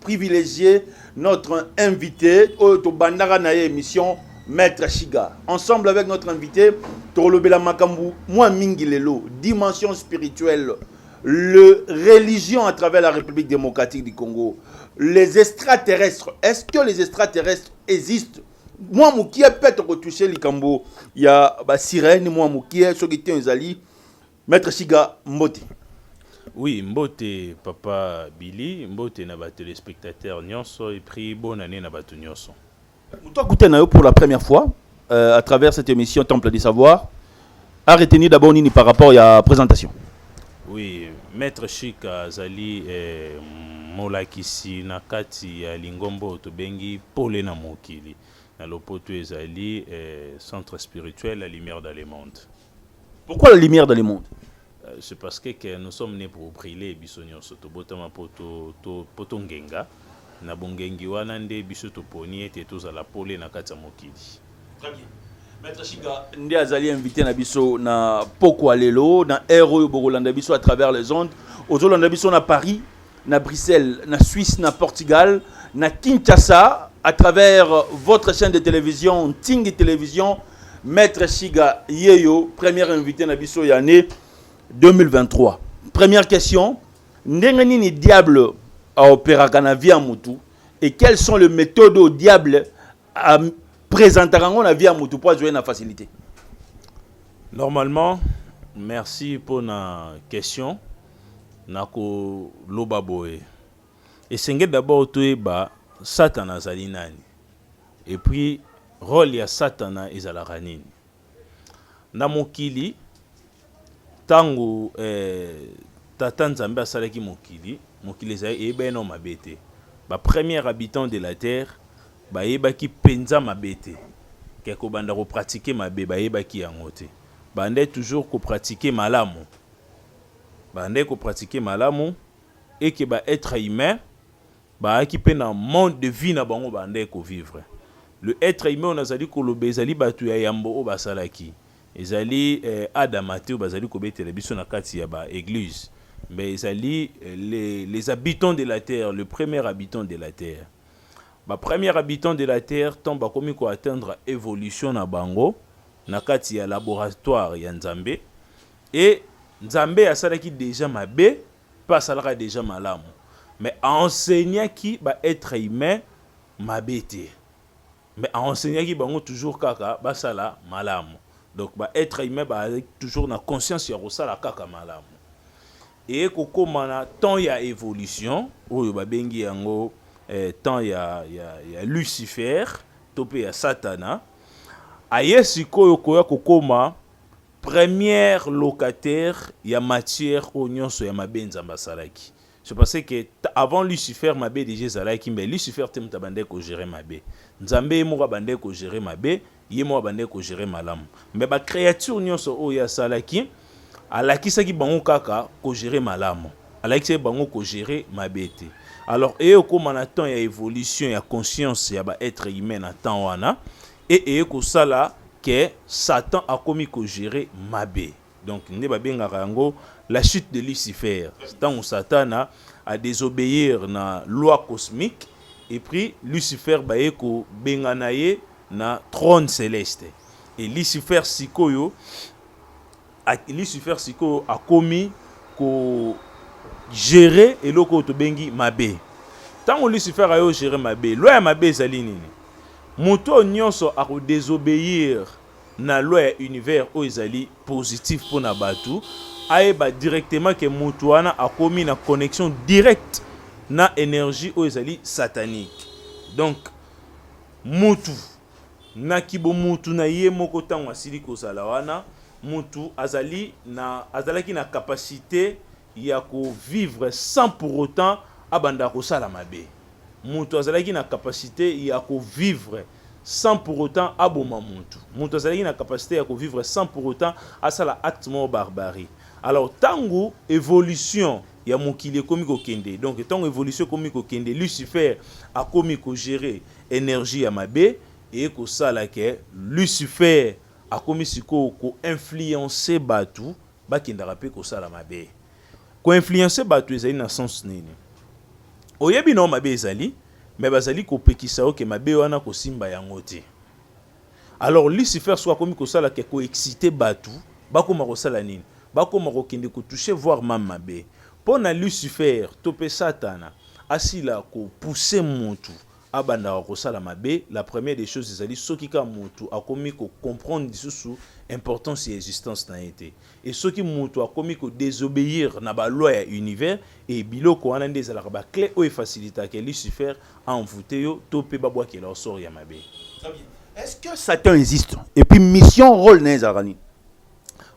privilégier notre invité oyo tobandaka na ye émission maître shiga ensemble avec notre invité tokolobela makambo mwa mingi lelo dimension spirituelle le religion à travers la république démocratique du congo les extraterrestres est-ce que les extraterrestres existent mwa mokie mpe tokotouche likambo ya basirene mwa mokie soki te ezali Maitre Shiga, mbote. Oui, mbote papa Billy, mbote na ba téléspectateurs nyonso et puis bonne année na batu nyonso. Mutu akuta na yo pour la première fois euh, à travers cette émission Temple du savoir a retenu d'abord nini par rapport ya présentation. Oui, maître Chic azali eh, molakisi na kati ya lingomba oyo tobengi pole na mokili na lopoto ezali eh, centre spirituel la lumière dans le monde Pourquoi la lumière dans le monde euh, C'est parce que, que nous sommes nés pour briller biso nyonso tobotama po to, to, po tongenga na bongengi wana nde biso toponi ete tozala pole na kati ya mokili. Très bien. Maître Shiga nde azali invité na biso na pokwa lelo na heure oyo bokolanda biso à travers les ondes ozolanda biso na Paris na Bruxelles, na Suisse, na Portugal, na Kinshasa, à travers votre chaîne de télévision, Tingi Télévision, Maître Shiga Yeyo, premier invité na biso ya année 2023. Première question, ndenge nini diable a opéraka na vie ya mutu et quelles sont les méthodes au diable a presentaka yango na vie ya motu mpo azwa ye na facilité normalement merci mpo na question nakoloba boye esengeli d'abord toyeba satana azali nani epuis role ya satana ezalaka nini Na mokili, ntango Tata Nzambe asalaki mokili, mokili ezalaki eyebani nano mabe te. Ba premiers habitants de la terre bayebaki mpenza mabe te, ke kobanda ko pratiquer mabe bayebaki yango te. Babandaki toujours ko pratiquer malamu, babandaki ko pratiquer malamu et que ba etres humains, Bayaki mpe na monde de vie na bango babandaki ko vivre. Le etre humain oyo nazali koloba ezali batu ya yambo oyo basalaki. Ezali Adama te oyo bazali kobetela biso na kati ya ba eglises mais ezali les habitants de la terre, le premier habitant de la terre. Ba premiers habitants de la terre tango bakomi ko atteindre evolution na bango na kati ya laboratoire ya Nzambe et Nzambe asalaki dejà mabe pe asalaka dejà malamu mais a enseignaki ba etre humain mabe te mais a enseignaki bango toujours kaka basala malamu donc ba etre humain bazalaki toujours na conscience ya kosala kaka malamu eye kokoma na temps ya evolution oyo babengi yango eh, temps ya, ya, ya lucifer to pe ya satana aye sikoyo koya kokoma Première locataire ya matière oyo nionso ya mabe Nzambe asalaki. C'est parce que avant Lucifer mabe dejà ezalaki mais Lucifer te moto abandaki ko gerer mabe. Nzambe ye moko abandaki ko gerer mabe, ye moko abandaki ko gerer malamu. Mais ba creatures nionso oyo ye asalaki, alakisaki bango kaka ko gerer malamu. Alakisaki bango ko gerer mabe te. Alors eye ekoma na temps ya evolution ya conscience ya ba etres humains na temps wana, Et eye kosala que Satan akomi ko gerer mabe. Donc nde ba bengaka yango la chute de Lucifer. Tango Satana a desobeir na loi cosmique et puis Lucifer baye ko bengana ye na trone celeste. Et Lucifer sik'oyo Lucifer sikoyo akomi ko gerer eloko oyo tobengi mabe. Ntango Lucifer ayo gerer mabe, loi ya mabe ezali nini? Moto oyo nyonso ako desobeir na loi ya univers oyo ezali positif mpo na bato, ayeba directement ke moto wana akomi na connexion directe na energie oyo ezali satanique. Donc, moto Na kibomutu na ye moko ntango asili kozala wana, mutu azali na, azalaki na capacite ya ko vivre sans pour autant abanda kosala mabe. Mutu azalaki na capacite ya ko vivre sans pour autant aboma mutu. Mutu azalaki na capacite ya ko vivre sans pour autant asala acte moko barbarie. Alors ntango evolution ya mokili ekomi kokende, donc ntango evolution ekomi kokende, Lucifer akomi ko gerer Energie ya mabe eye kosala que lucifer akomi sikoyo ko influencer batu bakendaka pe kosala mabe. Ko influencer batu ezali na sens nini? Oyebi nao mabe ezali mais bazali kopekisa yo que mabe wana kosimba yango te. Alors lucifer sikoyo akomi kosala que ko exciter batu bakoma kosala nini? Bakoma kokende ko toucher voir meme mabe. Pona lucifer to pe satana asila ko pousser mutu abandaka kosala mabe la première des choses ezali soki kaka mutu akomi ko comprendre lisusu importance ya existence na ye te et soki mutu akomi ko desobeir na ba loi ya univers et biloko wana nde ezalaka ba clé oyo efacilitaka ya lucifer envoute yo to pe babwakela yo sort ya mabe Est-ce que Satan existe? Et puis mission, rôle na ezalaka nini?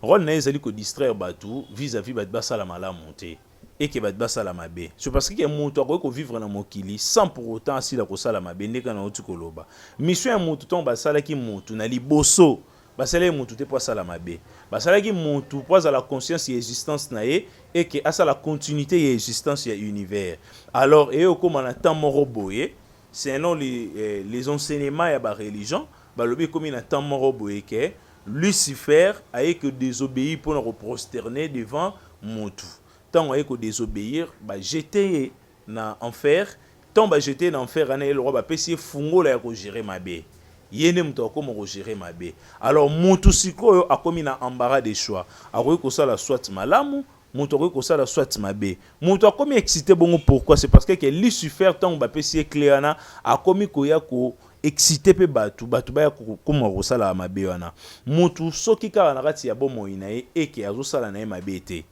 Rôle na ezali ko distraire batu vis-à-vis batu basala malamu te. et que bato basala mabe c'est parce que moto akoki kovivre na mokili sans pour autant asila kosala mabe ndenge kana oti koloba mission ya moto ntango basalaki moto na liboso basalaki moto te mpo asala mabe basalaki moto mpo azala conscience ya existence na ye et que asala continuité ya existence ya univers alors eye okóma na temps moko boye selon les, eh, les enseignements ya bareligion Balobi ekomi na temps moko boye ke Lucifer aye ko desobeir pona ko prosterner devant mutu. Tango aye ko desobeir ba jeter ye na enfer. Tango ba jeter ye na enfer wana ye lokwa ba pesi ye fungola ya ko gerer mabe. Ye nde mutu akoma ko gerer mabe. Alors mutu sikoyo akomi na embarras de choix. Akoki kosala soit malamu Mutu akoki kosala soit mabe. Mutu akomi excite bongo pourquoi? C'est parce que que Lucifer tango ba pesi ye cle wana akomi koya ko excite pe batu, batu baya kokoma kosala mabe wana. Mutu soki kaka na kati ya bomoi na ye et que azo sala na ye mabe te,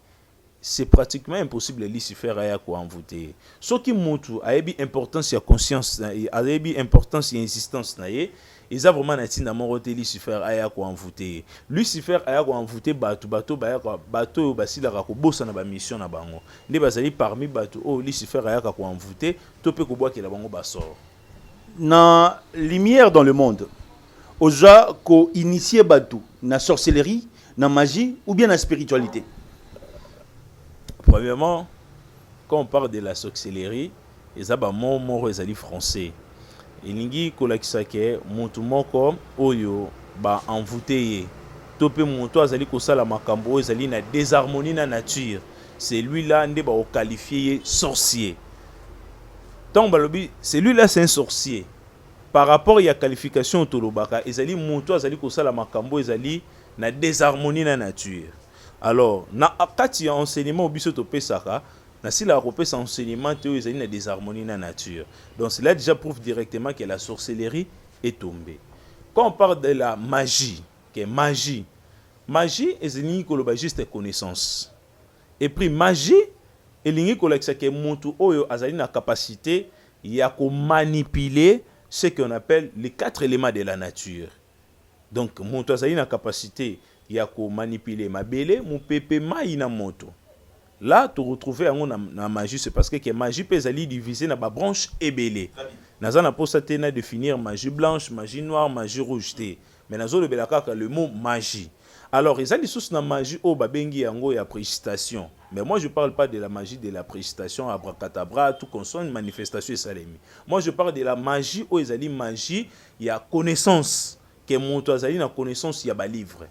c'est pratiquement impossible Lucifer aya ko envouter ye. Soki mutu ayebi importance ya conscience, ayebi importance ya insistance na ye, eza vraiment na ntina moko te lucifer aya koenvoute ye lucifer aya koenvoute bato bato bayaka bato oyo basilaka kobosana bamission na bango nde bazali parmi bato oyo oh, lucifer ayaka koenvoute to mpe kobwakela bango basoro na lumière dans le monde oza koinitie bato na sorcellerie na magie ou bien na spiritualité premièrement quand on parle de la sorcellerie Eza ba mots moko ezali français elingi kolakisa ke mutu moko oyo ba envouter ye to pe mutu azali kosala makambo oyo ezali na desharmonie na nature celui là nde bako qualifier ye sorcier. Tango balobi celui là c'est un sorcier par rapport ya qualification oyo tolobaka ezali mutu azali kosala makambo oyo ezali na desharmonie na nature alors na kati ya enseignement oyo biso topesaka Nasilaka kopesa enseignement te oyo ezali na desharmonie na nature. Donc cela dejà prouve directement que la sorcellerie est tombee. Quand on parle de la magie, que magie, magie ezilingi koloba juste connaissance. Et puis magie elingi kolakisa que mutu oyo azali na capacite ya ko manipuler ce que on appelle les quatre elements de la nature. Donc mutu azali na capacite ya ko manipuler mabele, mupepe, mayi na moto. Là to retrouver yango na, na magie c'est parce que, que magie pe ezali diviser na ba branches ebele. Naza na posa te na définir magie blanche, magie noire, magie rouge te. Mais nazo lobela kaka le mot magie. Alors eza lisusu na magie oyo ba bengi yango ya précitation. Mais moi je parle pas de la magie de la précitation abracadabra tout consonne manifestation esalemi. Moi je parle de la magie oyo ezali magie ya connaissance que mutu azali na connaissance ya ba livres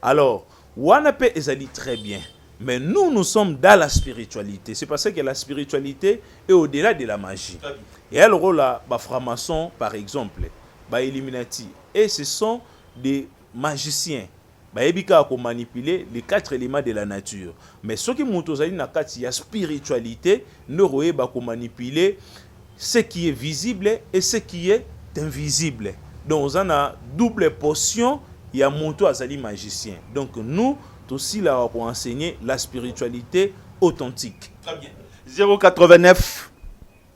alors wana pe ezali très bien mais nous nous sommes dans la spiritualité c'est parce que la spiritualité est au delà de la magie et alors là ba francs-maçons par exemple ba illuminati et ce sont des magiciens Bayebi kaka ko manipuler les quatre elements de la nature. Mais soki mutu ozali na kati ya spiritualite nde okoyeba ko manipuler ce qui est visible et ce qui est invisible. Donc oza na double portion ya mutu azali magicien. Donc nous tosilaka ko enseigner la spiritualite authentique. Très bien. 089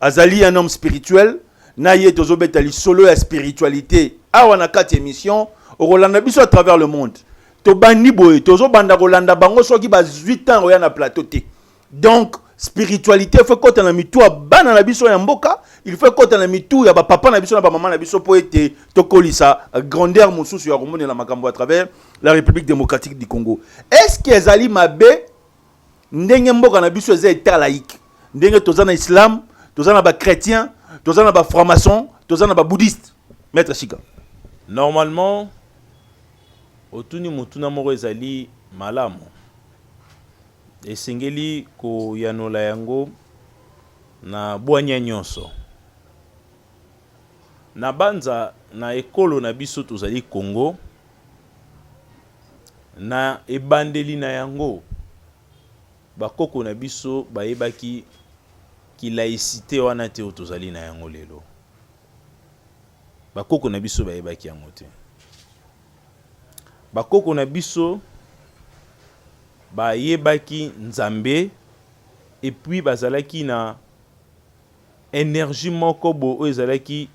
azali un homme spirituel na ye tozobeta lisolo ya spiritualité awa na kati émission okolanda biso à travers le monde tobandi boye tozobanda kolanda bango soki bazwi ntango oya na plateau te donc spiritualité faut ekota na mitu ya bana na biso ya mboka il faut ekota na mitu ya bapapa na biso na bamama na biso mpo ete tokolisa grandeur mosusu ya komonela makambo à travers la république démocratique du congo est ce que ezali mabe ndenge mboka na biso eza etat laïque ndenge toza na islam toza na bachrétien toza na bafranc-maçon toza na babouddhiste maître shika normalement otuni motuna moko ezali malamu esengeli koyanola yango na bwanya nyonso na banza na ekolo na biso tozali congo Na ebandeli na yango, bakoko na biso bayebaki ki laïcite wana te oyo tozali na yango lelo. Bakoko na biso bayebaki yango te. Bakoko na biso bayebaki Nzambe et puis bazalaki na energie moko boye oyo ezalaki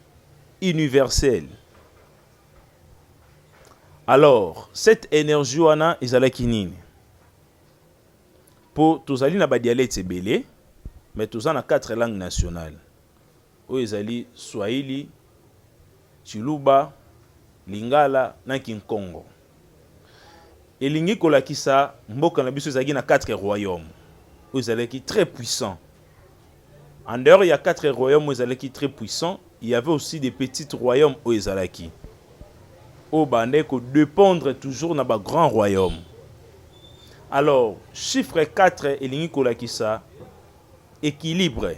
universelle. Alors, cette energie wana ezalaki nini? Po tozali na ba dialectes ebele, mais toza na quatre langues nationales. Oyo ezali Swahili, Tshiluba, Lingala na Kinkongo. Elingi kolakisa mboka na biso ezalaki na quatre royaume oyo ezalaki très puissant. En dehors ya quatre royaume oyo ezalaki très puissant, il y avait aussi des petits royaumes oyo ezalaki oyo bandaki ko dépendre toujours na ba grands royaumes. Alors chiffre 4 elingi kolakisa equilibre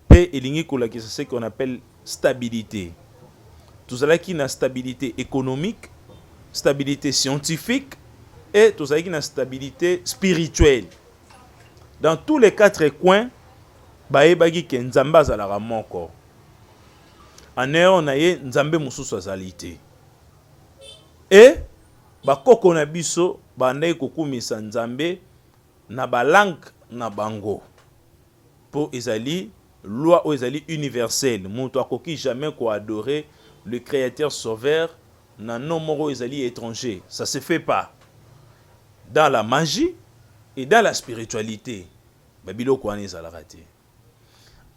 pe elingi kolakisa ce qu'on appelle Stabilite. Tozalaki na stabilite economique, stabilite scientifique et tozalaki na stabilite spirituelle. Dans tous les quatre coins, bayebaki que Nzambe azalaka moko. En dehors na ye, Nzambe mosusu azali te. Et bakoko na biso bandaki kokumisa Nzambe na ba langues na bango. Po ezali loi oyo ezali universelle, mutu akoki jamais ko adorer le Createur Sauveur na nom moko oyo ezali etranger, ça se fait pas dans la magie et dans la spiritualite, ba biloko wana ezalaka te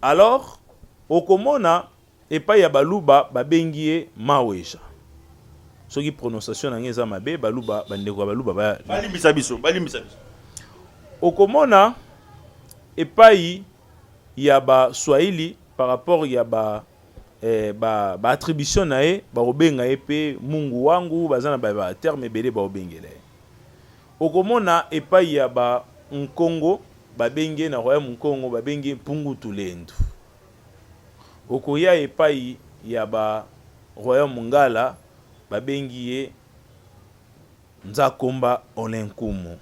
alors okomona. Epai ya baluba babengi ye maweja soki prononciation na nga eza mabe baluba bandeko ya baluba ba balimbisa biso balimbisa biso okomona epai ya baswahili par rapport ya ba eh, ba, ba attribution na ye bakobenga ye mpe mungu wangu baza na ba, ba terme ebele bakobengela ye okomona epai ya ba nkongo babengi ye na royaume nkongo babengi ye mpungu tulendu Okoya epayi ya ba royaume ngala babengi ye Nzakomba Olenkumu.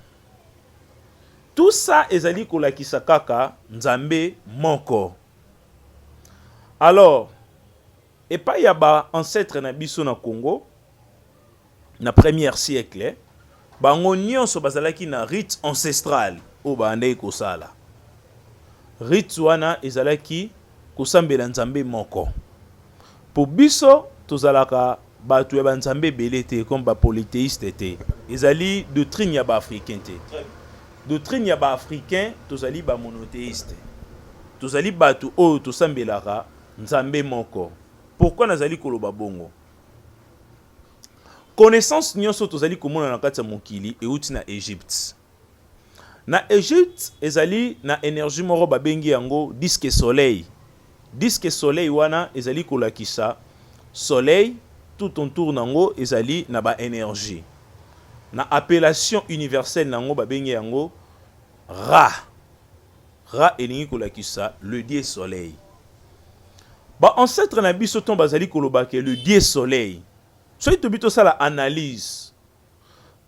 Tout ça ezali kolakisa kaka Nzambe moko. Alors epayi ya ba ancetres na biso na Congo, Na premier siècle, bango nionso bazalaki na rites ancestrales oyo babandaki kosala. Rites wana ezalaki kosambela nzambe moko. Po biso tozalaka batu ya ba nzambe ebele te comme ba polytheistes te. Ezali doctrine ya ba africains te. Doctrine ya ba africains tozali ba monotheistes. Tozali batu oyo tosambelaka nzambe moko. Pourquoi nazali koloba bongo? Connaissance nionso tozali komona na kati ya mokili euti na Egypte. Na Egypte ezali na energie moko babengi yango disque soleil. Disque soleil wana ezali kolakisa soleil tout autour nango ezali na ba energie. Na appellation universelle nango babengi yango Ra. Ra elingi kolakisa le dieu soleil. Ba ancetres na biso ntango bazali koloba ke le dieu soleil, soki tobi tosala analyse,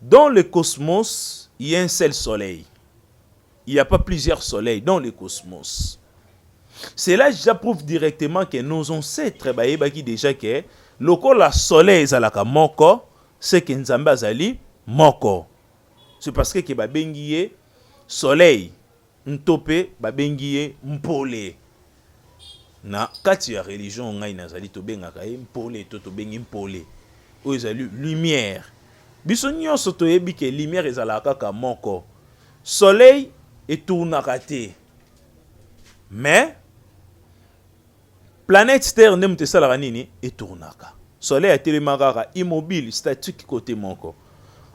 dans le cosmos il ya un seul soleil, il ya pas plusieurs soleils dans le cosmos. Cela dejà prouve directement ke nos ancetres bayebaki dejà ke lokola soleil ezalaka moko, ce ke Nzambe azali moko. C'est parce que ke babengi ye Soleil nto pe babengi ye Mpole. Na kati ya religion ngai nazali tobengaka ye Mpole to tobengi Mpole. Oyo ezali lumière. Biso nyonso toyebi ke lumière ezalaka kaka moko. Soleil etournaka te mais Planète terre nde moto esalaka nini? E tournaka. Soleil atelema kaka immobile, statique kote moko.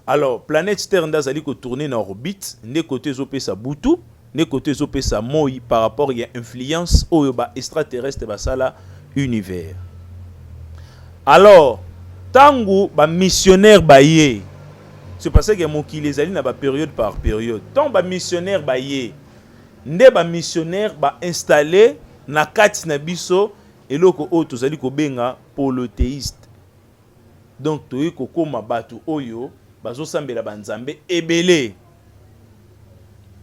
Alors planète terre nde azali ko tourner na orbite nde kote ezopesa butu nde kote ezopesa moi par rapport ya influence oyo ba extraterrestre basala univers. Alors tango ba missionnaire baye c'est parce que mokili ezali na ba periode par periode. Tant ba missionnaire baye nde ba missionnaire ba installer Na kati na biso eloko oyo tozali kobenga polytheiste donc toye kokoma batu oyo bazosambela ba nzambe ebele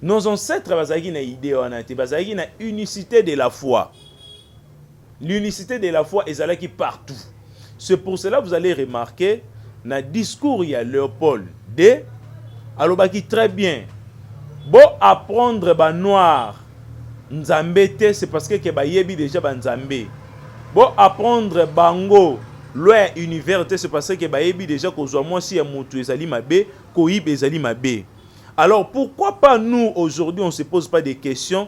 nos ancetres bazalaki na idee wana te bazalaki na unicite de la foi l'unicite de la foi ezalaki partout C'est pour cela vous allez remarquer na discours ya Leopold de alobaki très bien bo apprendre ba noir nzambe te c'est parce que ke bayebi déjà ba nzambe bo apprendre bango loi ya univers te c'est parce que bayebi déjà kozwa mwasi ya mutu ezali mabe koyiba ezali mabe alors pourquoi pas nous aujourd'hui on se pose pas des questions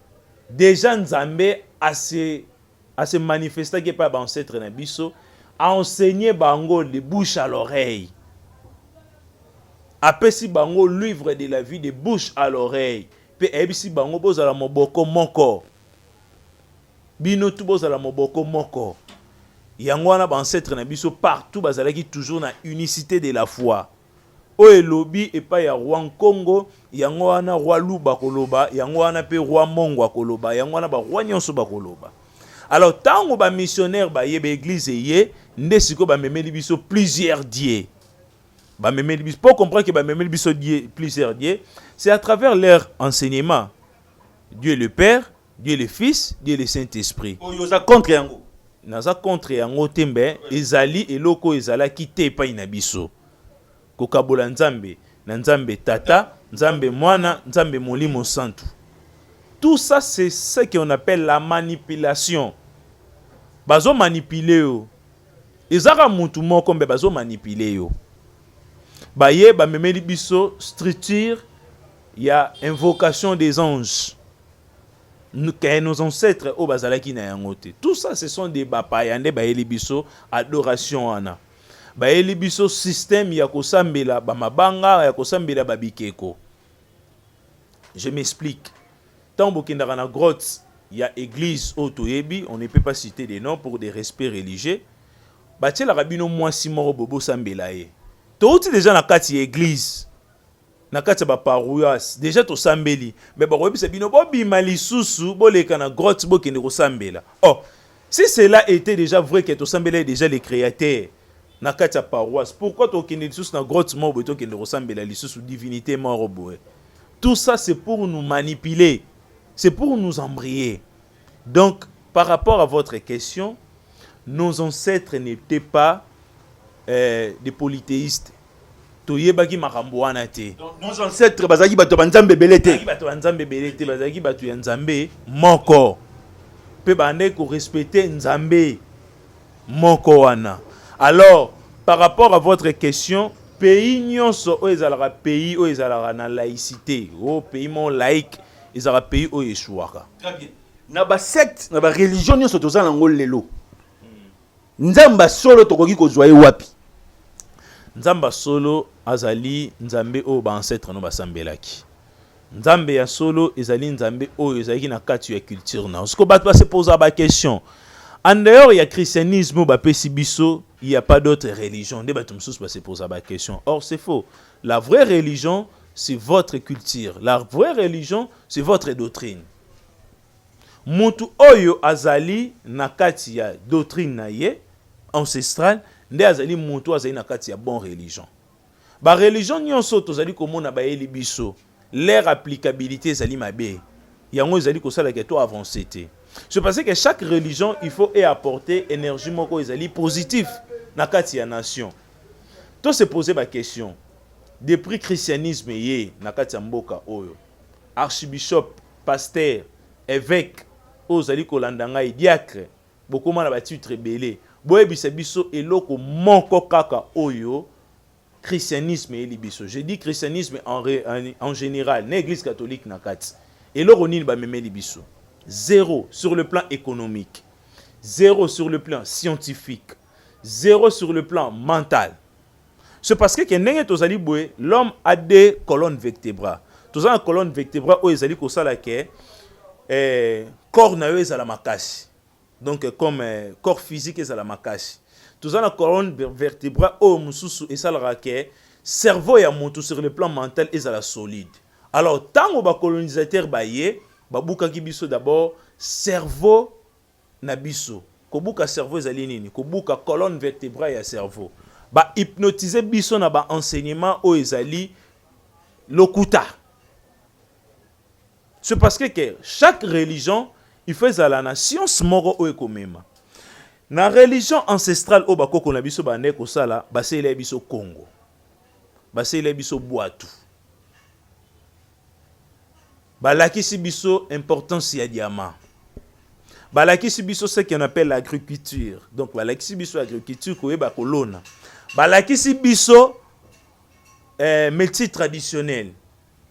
Dejà Nzambe a se a se manifestaki epai ya ba ancetres na biso, a enseigner bango de bouche à l'oreille, apesi bango luivre de la vie de bouche à l'oreille, mpe ayebisi bango bozala moboko moko, bino tout bozala moboko moko. Yango wana ba ancetres na biso partout bazalaki toujours na unicite de la foi. Oyo elobi epai ya roi nkongo, yango wana roi luba akoloba, yango wana mpe roi mongo akoloba, yango wana ba roi nyonso bakoloba. Alors ntango ba missionnaire baye ba eglise eye nde sikoyo bamemeli biso plusieurs dieu bamemeli biso mpo comprendre ke bamemeli biso die plusieurs dieu c'est à travers leur enseignement dieu le père Dieu le fils, Dieu le saint esprit. Oyo oza contre yango? Naza contre yango te mbe ezali eloko ezalaki te epai na biso. Kokabola Nzambe na Nzambe tata, Nzambe mwana, Nzambe molimo santu. Tout ça c'est ce qu'on appelle la manipulation. Bazo manipuler yo. Eza kaka mutu moko mbe bazo manipuler yo. Baye bamemeli biso structure ya invocation des anges. que nos ancêtres oyo bazalaki na yango te tout ça ce sont des bapaya nde bayeli biso adoration wana bayeli biso système ya kosambela bamabanga ya kosambela babikeko je m'explique ntango bokendaka na grotte ya église oyo toyebi on ne peut pas citer des noms pour des respects religieux batielaka bino mwasi moko boye bosambela ye touti deja na kati ya église na kati ya ba parouas deja tosambeli mais bakoyebisa bino bobima lisusu boleka na grotte bokende kosambela oh si cela était déjà vrai que tosambelaki déjà le créateur na kati ya paroisse pourquoi tokende lisusu na grotte moko boye tokende kosambela lisusu divinité moko boye tout ça c'est pour nous manipuler c'est pour nous embrier donc par rapport à votre question nos ancêtres n'étaient pas euh, des polythéistes toyebaki makambo wana te nos ancêtres bazalaki bato ya banzambe ebele te bato ya nzambe ebele te bazalaki bato ya nzambe moko mpe bandaki korespecte nzambe moko wana alors par rapport à votre question pays nyonso oyo ezalaka pays oyo ezalaka na laïcité o oh, pays moko laïque ezalaka pays oyo esuwaka na basecte na bareligion nyonso toza na yango lelo Nzambe ya solo tokoki kozwa ye wapi? Nzambe ya solo azali Nzambe oyo baancetre no basambelaki. Nzambe ya solo ezali Nzambe oyo ezalaki na kati ya culture na siko bato base poza ba question en dehors ya christianisme bapesi biso il y a pas d'autre religion nde bato mosusu base poza ba question or c'est faux la vraie religion c'est votre culture la vraie religion c'est votre doctrine Mutu oyo azali na kati ya doctrine na ye ancestrale nde azali mutu oyo azali na kati ya bon religion. Ba religion nionso oyo tozali komona bayeli biso leur applicabilite ezali mabe, yango ezali kosala ke to avancer te. C'est parce que chaque religion il faut e apporter energie moko ezali positif na kati ya nation. To se poser ba question, depris christianisme eye na kati ya mboka oyo, archibishop Pasteur, eveque, oyo ozali kolanda ngai, diacre, bokoma na ba titre ebele. Boyebisa biso eloko moko kaka oyo christianisme eyeli biso. Je dis christianisme en, en, en general, na eglise catholique na kati. Eloko nini bamemeli biso? Zero sur le plan économique. Zero sur le plan scientifique. Zero sur le plan mental. C'est parce que ndenge tozali boye, l'homme a deux colonnes vertébrales. Toza na colonne vertébrale oyo ezali kosala ke eh, corps na yo ezala makasi. Donc eh, comme eh, corps physique ezala makasi. Toza na colonne vertébrale oyo mosusu esalaka ke cerveau ya moto sur le plan mental ezala solide. Alors tango ba colonisateur baye babukaki biso d'abord cerveau na biso. Kobuka cerveau ezali nini? Kobuka colonne vertebrale ya cerveau. Ba hypnotiser biso na ba enseignements oyo ezali lokuta. C'est parce que, que chaque religion il faut ezala na science moko oyo ekomema. Na religion ancestrale oyo bakoko na biso bandai kosala, baselela biso Kongo. Baselela biso bwatu. Balakisi biso importance ya diamant. Balakisi biso ce qu'on appelle l'agriculture. Donc balakisi biso agriculture koyeba kolona. Balakisi biso eh, métier traditionnel.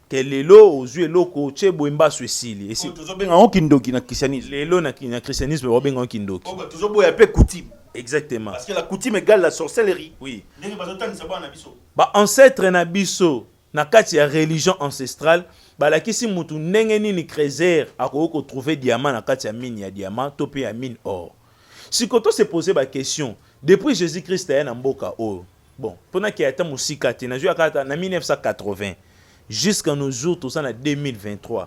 Ke lelo ozwi eloko otye boye mbasu esili. Esi tozobenga yango kindoki na christianisme. lelo na, na christianisme babenga yango kindoki. Oyo bato tozoboya mpe coutume. Exactement. Parce que la coutume égale la sorcellerie. Oui. Ndenge bazotangisa bana na biso. Ba ancêtre na biso Na kati ya religion ancestrale, balakisi mutu ndenge nini Kreser akoki ko trouver diamant na kati ya mine ya diamant to pe ya mine or. Siko to se poser ba questions, depuis Jesus Christ aya na mboka oyo, bon po na ke ata mosika te, nazwi ya kaka na 1980, jusqu'à nos jours toza na 2023,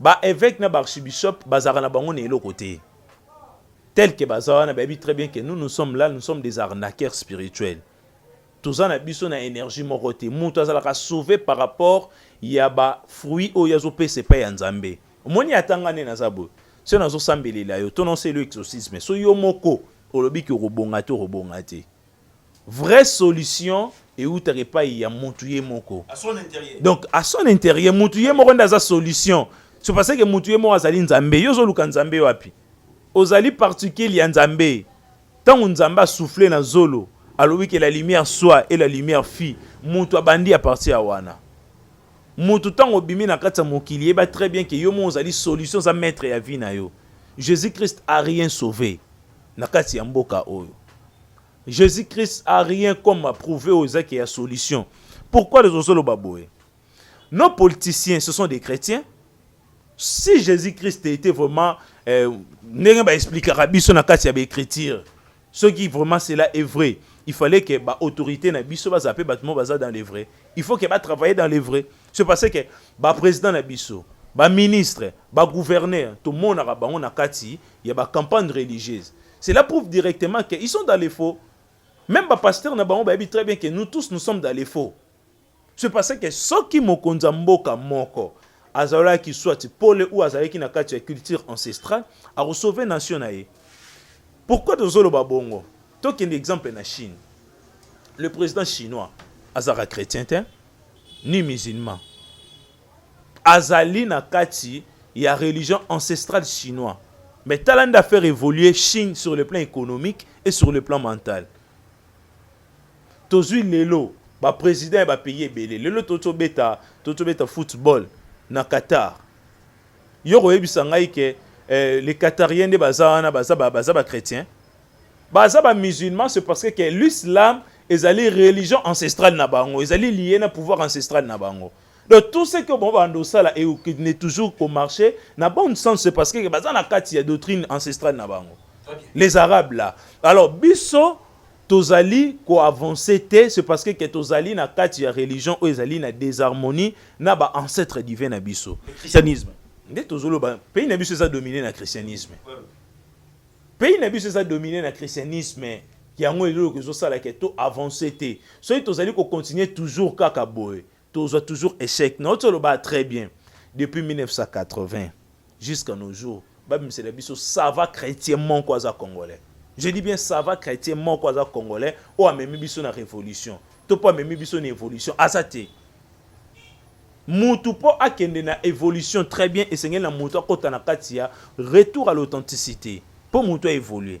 Ba eveque na ba archibishop bazalaka na bango na eloko te tel que baza wana bayebi très bien que nous nous sommes là nous sommes des arnaqueurs spirituels toza na biso na energie moko te moto azalaka sauve par rapport ya ba fruit oyo azopesa epai ya nzambe omoni atanga nde naza boye soki nazosambelela yo to naoselo exorcisme so yo moko olobi ki okobonga te okobonga te Vrai solution ewutaka epayi ya mutu ye moko. Donc à son interieur mutu ye moko nde aza solution. C'est parce que mutu ye moko azali Nzambe. Yo ozoluka Nzambe wapi? Ozali particule ya Nzambe. Tango Nzambe a souffler na zolo, alobi que la lumière soit et la lumière fut, mutu abandi à partir ya wana. Mutu tango obimi na kati ya mokili, yeba très bien que yo moko ozali solution, oza maitre ya vie na yo. Jesus-Christ a rien sauve. na kati ya mboka oyo Jesus Christ a rien comme a prouver aux ezaki ya solution pourquoi les ozoloba boye nos politiciens ce sont des chrétiens si Jesus Christ était vraiment euh, ndenge ba expliquera biso na kati ya ba écriture ce qui vraiment cela est vrai il fallait que ba autorité na biso ba zape batmo baza dans les vrais il faut que ba travailler dans les vrais c'est parce que ba président na biso ba ministre ba gouverneur to monaka bango na kati ya ba campagne religieuse cela prouve directement que ils sont dans les faux même ba pasteur na bango bayebi très bien que nous tous nous sommes dans les faux c'est parce que soki mokonzi ya mboka moko azalaki soit pole ou azalaki na kati ya culture ancestrale akosauve nation na ye pourquoi tozoloba bongo tokende exemple na chine le président chinois azalaka chrétien te ni musulman azali na kati ya religion ancestrale chinois mais tala nde affaire evolue chine sur le plan economique et sur le plan mental tozwi lelo ba président ya ba pays ebele lelo totobeta totobeta football na qatar yo koyebisa ngai ke eh, les qatarien nde baza wana baza ba, baza ba chrétien baza ba musulman c'est parce que l'islam ezali religion ancestrale na bango ezali liye na pouvoir ancestrale na bango Donc tout ce que bon bando sala et qui n'est toujours qu'au marché, na bon sens c'est parce que baza na kati ya doctrine ancestrale na bango. Les arabes là. Alors biso tozali ko avancer te, c'est parce que que tozali na kati ya religion ou ezali na désharmonie na ba ancêtres divins na biso. Le christianisme. Nde tozolo ba pays na biso eza dominé na christianisme. Pays na biso eza dominé na christianisme. Yango eloko ezosala ke to avancer te. Soki tozali ko continuer toujours kaka boye. Tozwa toujours echec nauti oloba très bien depuis 1980 jusqu'à nos jours babimisela biso sava chretien moko aza congolais je dis bien sava chretien moko aza congolais oyo amemi biso na révolution to mpo amemi biso na évolution aza te mutu mpo akende na évolution très bien esengeli na mutu akota na kati ya retour à l'authenticité mpo mutu a évoluer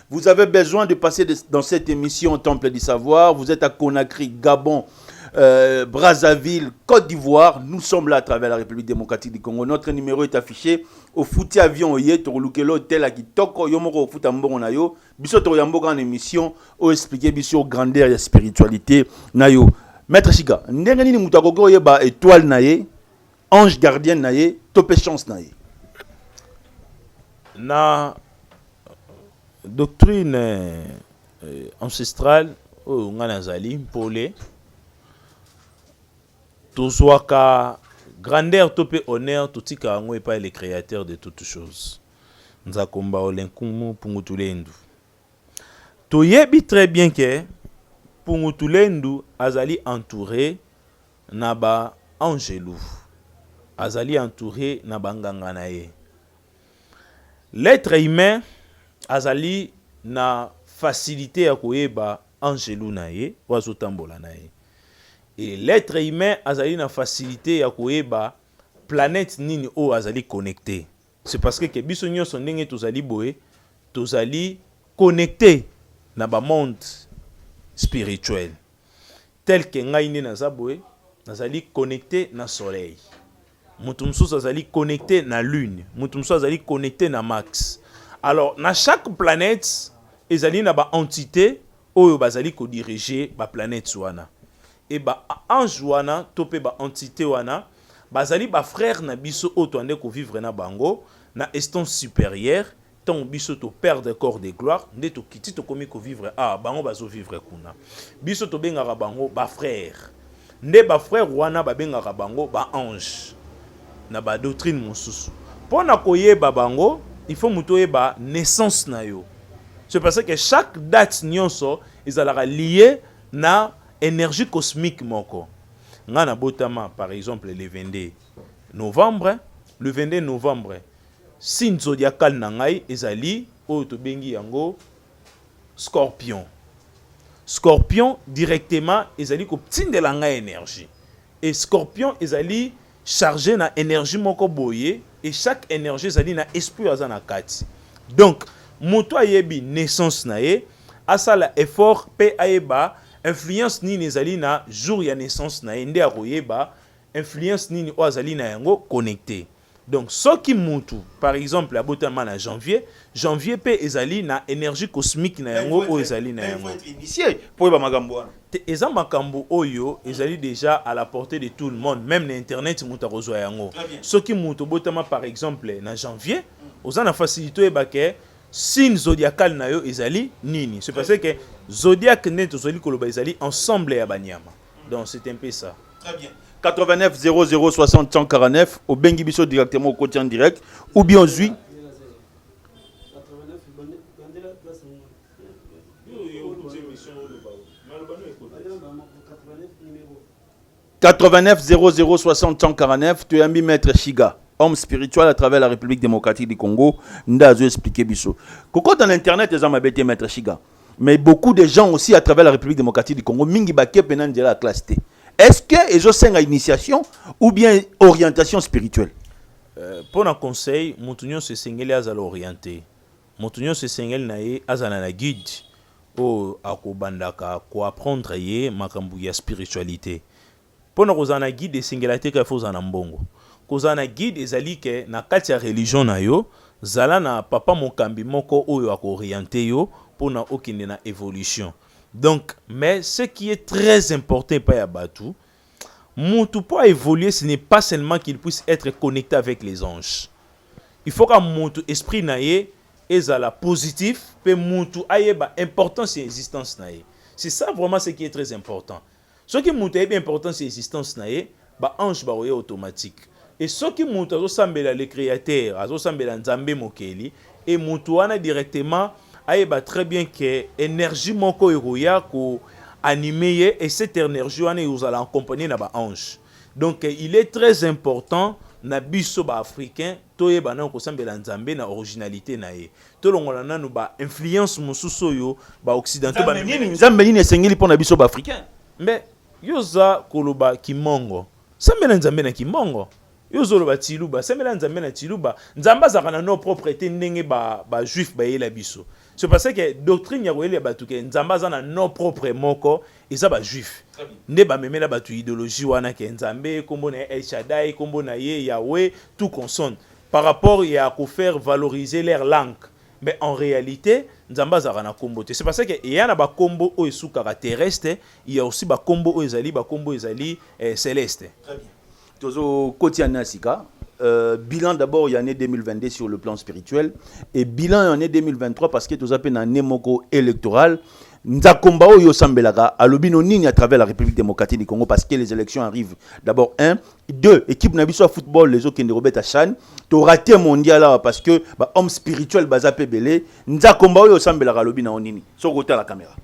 Vous avez besoin de passer de, dans cette émission Temple du Savoir. Vous êtes à Conakry, Gabon, euh, Brazzaville, Côte d'Ivoire. Nous sommes là à travers la République démocratique du Congo. Notre numéro est affiché. Au fouti avion, oye, tokolukelo tel à kitoko, yomoko futa mbongo na yo. Biso to yamboka en émission, o expliquer biso grandeur et spiritualité na yo. Maître Chiga, ndenge nini mutu akoki oyeba étoile na ye Ange gardienne na ye to pe chance na ye. Na doctrine euh, ancestrale oyo ngai nazali mpole tozwaka grandeur to mpe honneur totika yango epai le créateur de toutes choses nzakomba olenkumu pungutulendu toyebi très bien ke pungutulendu azali entouré Na ba anjelu. Azali entoure na ba nganga na ye. L'etre humain azali na facilite ya koyeba anjelu na ye oyo azo tambola na ye et l'etre humain azali na facilite ya koyeba planète nini oyo azali connecte. C'est parce que ke biso nyonso ndenge tozali boye tozali connecte na ba monde spirituel tel que ngai nde naza boye nazali connecte na soleil moto mosusu azali connecte na lune moto mosusu azali connecte na max alors na chaque planète ezali na ba entité oyo bazali ko diriger ba planètes wana et ba anges wana to pe ba entites wana bazali ba frères na biso oyo toande ko vivre na bango na estance superieure, tango biso to perdre corps de gloire nde tokiti tokomi ko vivre awa bango bazo vivre kuna. Biso tobengaka bango ba frères Nde ba frères wana babengaka bango ba anges na ba doctrines mosusu. Pona koyeba bango il faut mutu oyeba naissance na yo. C'est pour ça que chaque date nionso ezalaka liee na energie cosmique moko. Nga nabotama par exemple le 22 novembre, le 22 novembre signe zodiacal na ngai ezali oyo tobengi yango Scorpion. Scorpion directement ezali ko tindela nga energie. Et scorpion ezali charge na energie moko boye et chaque energie ezali na esprit oyo aza na kati. Donc mutu ayebi naissance na ye asala effort pe ayeba influence nini ezali na jour ya naissance na ye nde akoyeba influence nini oyo azali na yango connecte. Donc soki mutu par exemple abotama na janvier, janvier pe ezali na energie cosmique na yango oyo ezali na yango. Po oyeba makambo wana. Te, eza makambo oyo ezali dejà à la portee de tout le monde, meme na internet mutu akozwa yango. Soki mutu obotama par exemple na janvier, oza na facilite oyeba ke signe zodiacal na yo ezali nini. C'est parce que zodiac nde tozali koloba ezali ensemble ya ba nyama. donc c'est un peu ça très bien 89 00 60 149 obengi biso directement okoti en direct ou bien ozwi Quatre-vingt-neuf zéro zéro soixante cent quarante-neuf toyambi maître Shiga homme spirituel à travers la République démocratique du Congo nda azo expliquer biso kokota na internet eza mabe te maître Shiga mais beaucoup de gens aussi à travers la République démocratique du Congo mingi bakie pena nzela ya classe te est-ce que ezosenga initiation ou bien orientation spirituelle euh, mpo na conseil moto nyonso esengeli azala oriente moto nyonso esengeli na ye azala na guide oyo akobandaka koapprendre ye makambo ya spiritualité Mpo na kozala na guide esengela te kaka il faut ozala na mbongo. Kozala na guide ezali ke na kati ya religion na yo zala na papa mokambi moko oyo ako orienter yo mpo na okende na evolution. Donc mais ce qui est très important epai ya batu mutu mpo a evoluer ce n'est pas seulement qu'il puisse etre connecte avec les anges. Il faut kaka mutu esprit na ye ezala positif mpe mutu ayeba importance ya existence na ye. C'est ça vraiment ce qui est très important. Soki mutu ayebi importance ya existence na ye, ba anges bakoya automatique. Et soki mutu azosambela le createur, azosambela Nzambe mokeli, et mutu wana directement ayeba très bien que energie moko ekoya ko animer ye et cette energie wana ekozala accompagnée na ba anges. Donc il est très important na biso ba africains toyeba nanu kosambela Nzambe na originalite na ye. Tolongola nanu ba influence mosusu oyo ba occidentaux ba nini nzambe nini esengeli pona biso ba africain. Mbe yoza koloba kimongo sambela nzambe na kimongo. Yo zoloba tiluba sambela nzambe na tiluba. Nzambe azaka na no propre te ndenge ba ba juif ba yela biso. C'est parce que doctrine ya koyelia batu ke nzambe aza na no propre moko eza ba juif. Nde ba memela batu ideologie wana ke nzambe kombo na ye El Shaddai kombo na ye Yahweh tout consonne. par rapport ya ko faire valoriser leur langue mais en realite Nzambe azalaka na kombo te c'est parce que eya na ba kombo oyo esukaka terrestre il ya aussi ba kombo oyo ezali ba kombo ezali celeste. Très bien. Tozo koti annee ya sika Euh, bilan d'abord il y a année 2022 sur le plan spirituel et bilan il y a année 2023 parce que toza pe na année moko électorale nzakomba oyo osambelaka alobi no nini à travers la république démocratique du congo parce que les élections arrivent d'abord un deux équipe na biso ya football ezokende kobeta chan torate mondial awa parce que bahomme spirituel baza mpe ebele nzakomba oyo osambelaka alobi na yo nini soki otala kamera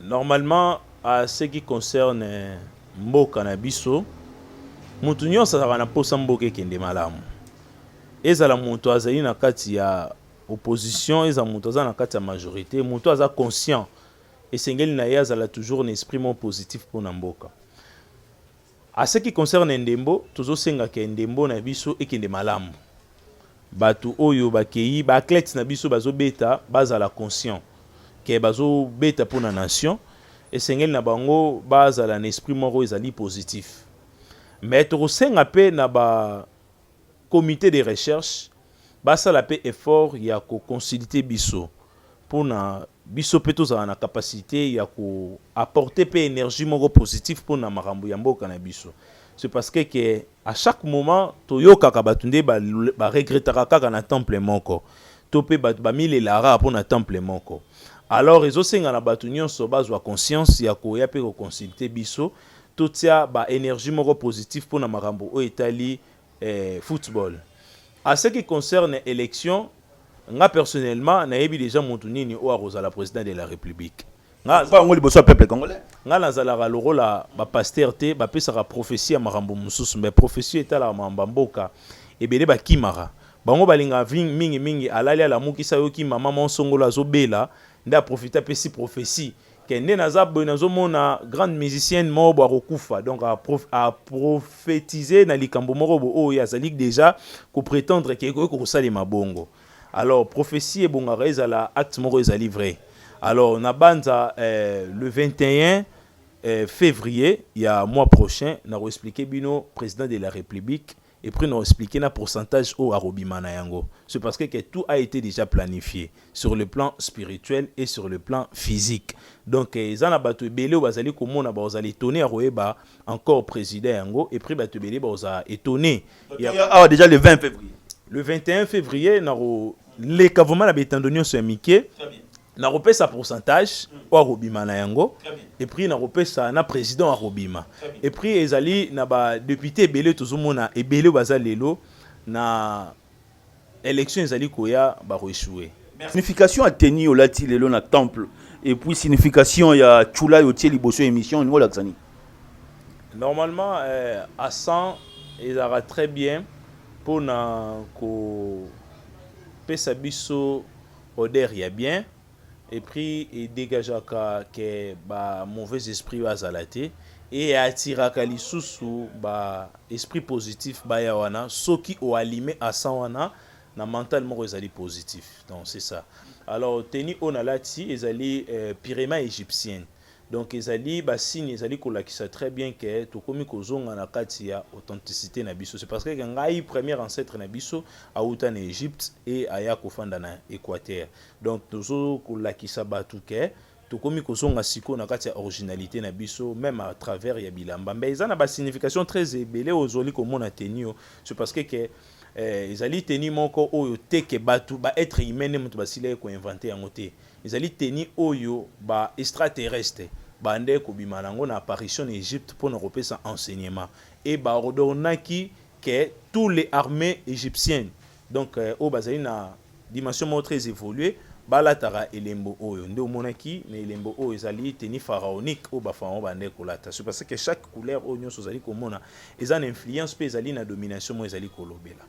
normalement à ce qui concerne mboka na biso moto nyonso azalaka na mposa mboka ekende malamu ezala moto azali na kati ya opposition ezala moto aza na kati ya majorité moto aza conscient esengeli na ye azala toujours na esprit moko positif mpo na mboka. A ce qui concerne ndembo, tozosenga ke ndembo na biso ekende malamu. Bato oyo bakei, ba athlètes na biso bazobeta, bazala conscient ke bazobeta mpo na nation, esengeli na bango bazala na esprit moko ezali positif. Mais tokosenga mpe na ba comite de recherche basala pe effort ya ko consulter biso pona biso pe tozala na capacite ya ko apporter pe energie moko positif pona makambo ya mboka na biso. Ce parce que que à chaque moment toyokaka bato nde ba regrettaka kaka na temple moko to pe bato ba milelaka kaka pona temple moko alors ezo senga na bato nionso bazwa conscience ya koya pe ko consulter biso Totia ba energie moko positif pona makambo oyo etali football. A ce qui concerne election, nga personnellement nayebi dejà mutu nini oyo akozala president de la republique. Nga Aloba yango liboso ya peuple congolais. Nga nazalaka lokola ba pasteurs te, bapesaka prophetie ya makambo mosusu mais prophetie oyo etalaka makambo ya mboka ebele bakimaka. Bango balingaka mingi mingi alali alamuki se ayoki maman moko songolo azobela nde a profiter apesi prophetie. Ke nde naza boye nazo mona grande musicienne moko bo akokufa donc a, prof, a prophétiser na likambo moko bo oyo azali deja ko prétendre ke ekoki kosalema bongo alors prophétie ebongaka ezala acte moko ezali vrai alors nabanza eh, le 21 eh, février ya mois prochain nako expliquer bino président de la république Et puis na explique na pourcentage oyo akobima na yango. C'est parce que que tout a ete dejà planifie sur le plan spirituel et sur le plan physique. Donc eh, eza na bato ebele oyo bazali komona bakozala etone ya koyeba encore president yango et puis bato ebele bakozala etone. Awa ah, déjà le 20 février. Le 21 février nako leka vraiment na betando nyonso ya mike nakopesa pourcentage oyo akobima na yango epuis nakopesa na président akobima epuis ezali na badepute ebele tozomona ebele baza lelo na élection ezali koya bakoechoue signification ya teni olati lelo na temple epuis signification ya chula yo tie liboso ya émission olingi olakisa nini normalement euh, à 100 ezalaka très bien mpo na ko pesa biso odeur ya bien epris e degageaka ke ba mauvais esprit bazala te e attiraka lisusu ba esprit positif baya wana soki o alime asan wana na mental moko ezali positif donc c'est ça alors teni oyo nalati ezali euh, pirema egyptienne Donc ezali ba signe ezali kolakisa très bien que tokomi kozonga na kati ya authenticité na biso. C'est parce que ngai premier ancêtre na biso auta na Egypte et aya kofanda na Equateur. Donc tozo kolakisa batu que tokomi kozonga siko na kati ya originalité na biso même à travers ya bilamba. Mais eza na ba signification très ebele ozoli komona tenio. C'est parce que, que eh, ezali teni moko oyo teke batu ba être humain ne moto basilaki koinvente yango te Ezali teni oyo ba extraterrestre babandaki kobima na yango na apparition na Egypte mpo na kopesa enseignement et ba ordonaki que tout les armees egyptiennes donc oyo bazali na dimension moko très evoluer balataka elembo oyo. Nde omonaki na elembo oyo ezali teni pharaonique oyo ba pharaon babandaki kolata. C'est parce que chaque couleur oyo nionso ozali komona eza na influence mpe ezali na domination moko ezali kolobela.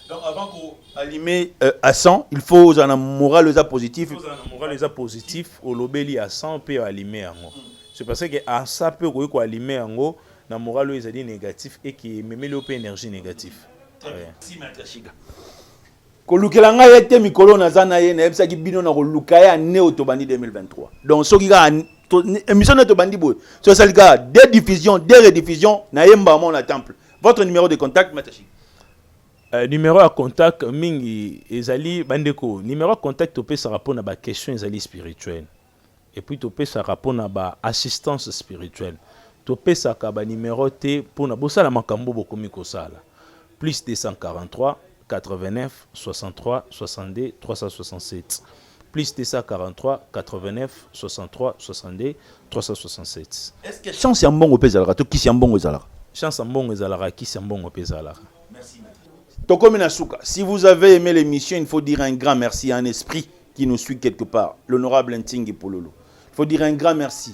Donc avant ko allumer euh, à 100, il faut aux en moral les positif. Aux en moral les positif, au lobeli à 100 peut allumer yango. Mm. C'est parce que à ça peut ko ko allumer yango na moral les dit négatif et qui même le énergie négative. Si matashiga. kolukela ngai ye te mikolo naza na ye nayebisaki bino na koluka ye ane oyo tobandi 2023 donc soki kaka émission nde tobandi boye so esali kaka de diffusion de rediffusion nayembaka mona temple votre numéro de contact maître Chic Euh, numéro ya contact mingi ezali bandeko numéro ya contact topesaka mpo na baquestion ezali spirituelle epuis topesaka mpo na baassistance spirituelle topesaka banimero te mpo na bosala makambo bokomi kosala plus 243 89 63 62 367 plus 243 89 63 62 367 est ce que chance ya mbongo mpe ezalaka to kisi ya mbongo ezalaka chance ya mbongo ezalaka kisi ya mbongo mpe ezalaka merci tokomi na suka si vous avez aimé l'émission il faut dire un grand merci à un esprit qui nous suit quelque part l'honorable ntingi pululu il faut dire un grand merci